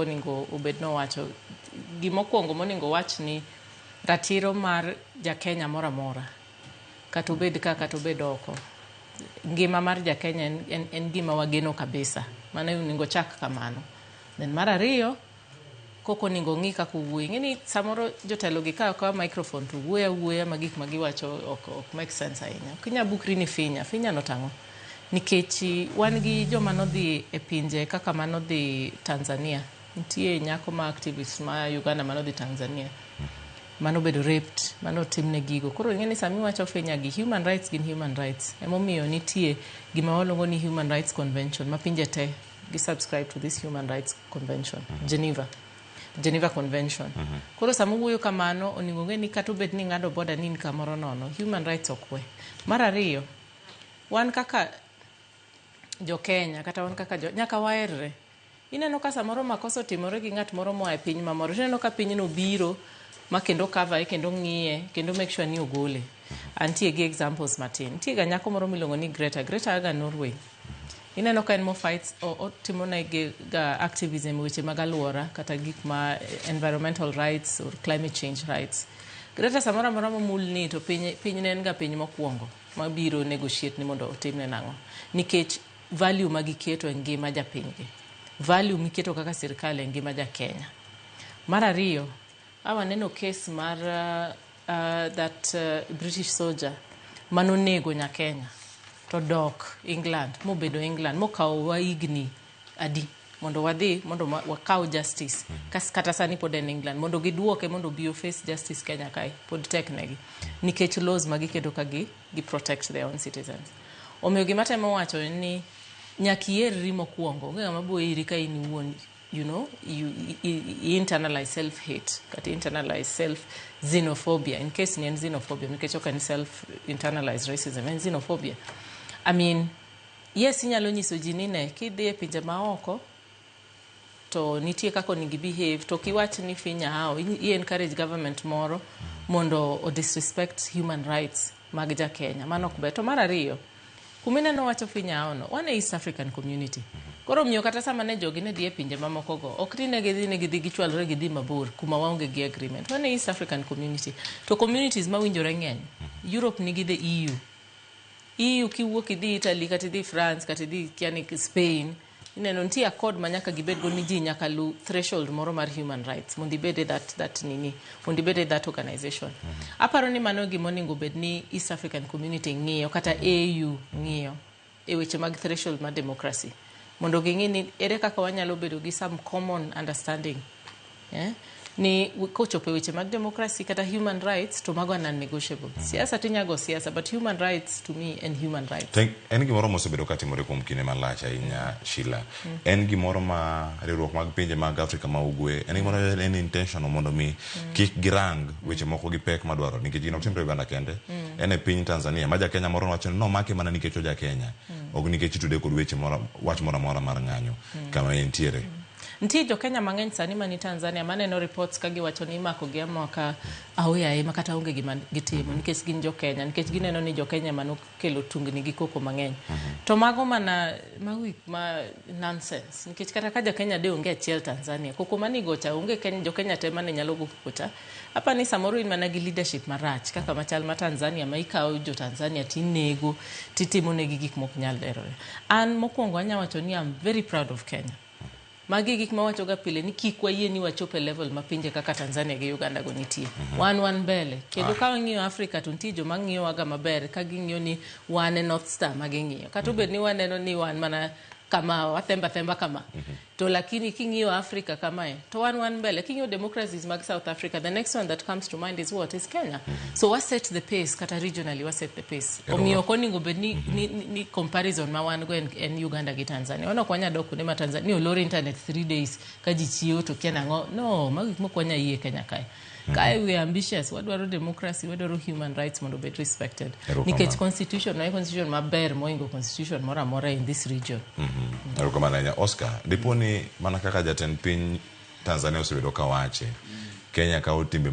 oningo obed nowacho gima okuongo moningo wach ni ratiro mar jakenya moro amora kata obed ka kata obed oko ngima mar jakenya en, en, en gima wageno kabisa mano oningo chak kamano then mar ariyo koko oningo ong'i kaka owuoyo ing'e ni samoro jotelo gi kawo kawa microphone to wuoyo awuoya ma gik ma giwacho ok, ok make sense ahinya ok inya bukri ni finya finya no tang'o nikech wan gi joma nodhi e pinje kaka ma nodhi Tanzania. Nitie nyako ma activist ma Uganda ma nodhi Tanzania ma nobedo raped, ma notimne gigo. Koro ing'e ni sama iwacho Kenya gi human rights gin human rights. Emomiyo nitie gima waluongo ni human rights convention ma pinje te gi subscribe to this human rights convention, Geneva. Geneva Convention. Koro sama owuoyo kamano, onego ong'e ni kata obed ni ing'ado boda ni in kamoro nono, human rights ok we. Mar ariyo, Wan kaka jo Kenya kata wan kaka jo nyaka waerre. Ineno ka samoro makosa otimore gi ng'at moro moa e piny mamoro tineno ka pinyno biro ma kendo kavae kendo ng'iye kendo make sure ni ogole. Antie gi examples matin. Nitie ga nyako moro miluongo ni Greta. Greta a ga Norway. Ineno ka en mo fights o- otimo ne gi ga activism weche mag alwora kata gik ma environmental rights or climate change rights. Greta samoro amora momulni to piny piny ne en ga piny mokwongo. mabiro negotiate ni mondo otimne nang'o nikech value ma giketo e ngima japinygi, value miketo kaka sirkal e ngima ja Kenya. Mar ariyo, a waneno kes mar uh, uh, that uh, British soldier manonego nya Kenya to dok England mobedo England mokawo wahigni adi mondo wadhi mondo ma- wakaw justice Kas- kata sani pod en england mondo giduoke mondo obi oface justice kenya kae pod tek negi nikech laws ma giketo ka gi, gi protect their own citizens omiyo gima temo wacho en ni nyaka ierri mokwongo onge ng'ama bo iri ka in iwuon you know you, i, i, i internalize self hate kata internalize self xenophobia in case ni en xenophobia nikech ok en self internalized racism en xenophobia i mean Yes inyalo nyiso ji ni ne kidhi e pinje maoko to nitie kaka onego behave to kiwach ni finya hao i encourage government moro mondo o disrespect human rights mag ja Kenya mano ok ber to mar ariyo kuma ineno wacho finya hao no wan e East African community koro omiyo kata sama ne jogi ne dhi e pinje mamoko go ok ni ne gidhi ni gidhi gichwalre gidhi mabor kuma waonge gi agreement wan e East African community to communities mawinjore ng'eny Europe nigi the EU Iu kiwuok idhi Italy kata idhi France kata idhi yani Spain ineno nitie accord ma nyaka gibed go ni ji nyaka lu threshold moro mar human rights mondo ibed e that, that nini mondo ibed e that organization mm -hmm. aparo ni mano gima onego bed ni East African Community ng'iyo kata AU ng'iyo e weche mag threshold mar democracy mondo ging'i ni ere kaka wanyalo bedo gi some common understanding eh? ni kochopo e weche mag democracy kata human rights to mago are non-negotiable mm. siasa tinyago siasa but human rights to me and human rights Thank, en gimoro mosebedo katimore kuom kinde malach ahinya Sheila en gimoro ma riwruok mag pinje mag Afrika ma Ugwe en gimoro mm. en intentional mondo mi mm. kik girang weche moko gi pek madwaro nikech gino timre Uganda kende mm. en e piny Tanzania ma Jakenya moro wacho ni nomake mana nikech oja Kenya mm. ok nikech itude kod weche moro wach moro amora mar ng'anyo mm. kama entiere mm. Nitie jo Kenya mang'eny sani mani Tanzania maneno reports ka giwacho ni imako gi amaka aoyaye ma kata onge gima gitimo mm-hmm. nikech gin jo Kenya nikech gineno ni jo Kenya manok kelo tungni gi koko mang'eny to mago mana mago gik ma nonsense nikech kata ka jakenya de onge achiel tanzania koko manigocha onge Kenya, jokenya te mane nyalo go kokocha apa ni samoro in mana gi leadership marach kaka machal ma tanzania ma ikawo jo tanzania tinego titimo negi gik mok nyal lerore an mokwongo anya wacho ni am very proud of kenya Magi gik ma wachoga pile ni kik wayie ni wachop e level ma pinje kaka Tanzania gi Uganda go nitie. Wan wan mbele. Kendo ka wang'iyo Africa to nitie joma ng'iyowaga maber ka ging'iyo ni wan e North Star ma ging'iyo. Kata obed ni waneno ni wan mana kama, wathembo athemba kama. To lakini king'iyo Africa kamae, to wan wan mbele king'iyo democracies mag south africa the next one that comes to mind is what is kenya so wa set the pace kata regionally wa set the pace Ero omiyo ok oningo bed ni, ni, ni, ni comparison ma wan go en, en uganda gi tanzania wan ok wanya dok kuonde ma tanzania ni olor internet three days ka ji chiewo to kia nang'o no magi gik mok wanya yie kenya kae Mm. Kae we are ambitious, wadwaro democracy, wadwaro human rights mondo obed respected. Erokamano. Nikech constitution na constitution maber moingo constitution moro amora in this region. erokamano ahinya oscar dipo ni mana kaka jatend piny tanzania osebedo kawache kenya kawo timbe